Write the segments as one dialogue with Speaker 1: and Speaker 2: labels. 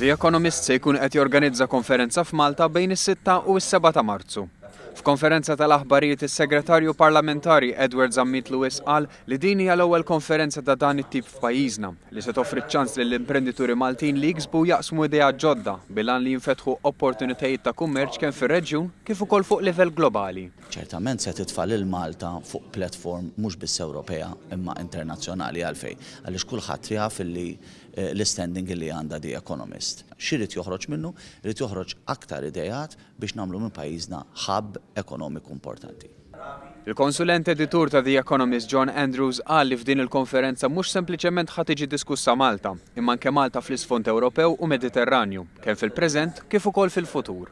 Speaker 1: The Economist se jkun qed jorganizza konferenza f'Malta bejn is-sitta u s-seba' ta' Marzu. F'konferenza tal-aħbarijiet is-Segretarju Parlamentari Edward Zammit Lewis qal li din hija l-ewwel konferenza ta' dan it-tip f'pajjiżna li se toffri ċ-ċans lill-imprendituri Maltin li jiksbu u jaqsmu ideat ġodda bil-għan li jinfetħu opportunitajiet ta' kummerċ kemm fir-reġjun kif ukoll fuq livell globali. ċertament se titfa'
Speaker 2: lil Malta fuq platform mhux biss Ewropea imma internazzjonali. Għalfejn? Għaliex kulħadd jaf li l-istanding li għandha The Economist. X'irid joħroġ minnu? Irid joħroġ aktar ideat biex nagħmlu minn pajjiżna hub ekonomiku importanti. Il-konsulent
Speaker 1: editur ta' The Economist John Andrews qal li f'din il-konferenza mhux sempliċement ħa tiġi diskussa Malta, imma anke Malta fl-isfond Ewropew u Mediterranju, kemm fil-preżent kif ukoll fil-futur.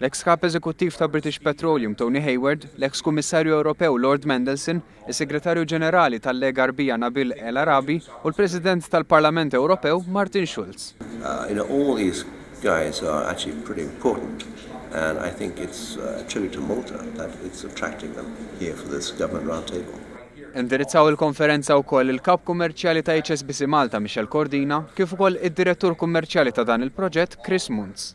Speaker 1: l-eks Kap Eżekuttiv ta' British Petroleum Tony Hayward, l-eks Kummissarju Ewropew Lord Mandelson, is-Segretarju Ġenerali tal-Lega Għarbija Nabil El Arabi u l-President tal-Parlament Ewropew Martin Schulz.
Speaker 3: Indirizzaw
Speaker 1: il-konferenza wkoll il-Kap Kummerċjali ta' HSBC Malta Michel Cordina kif ukoll id-Direttur Kummerċjali ta' dan il-proġett Chris Muntz.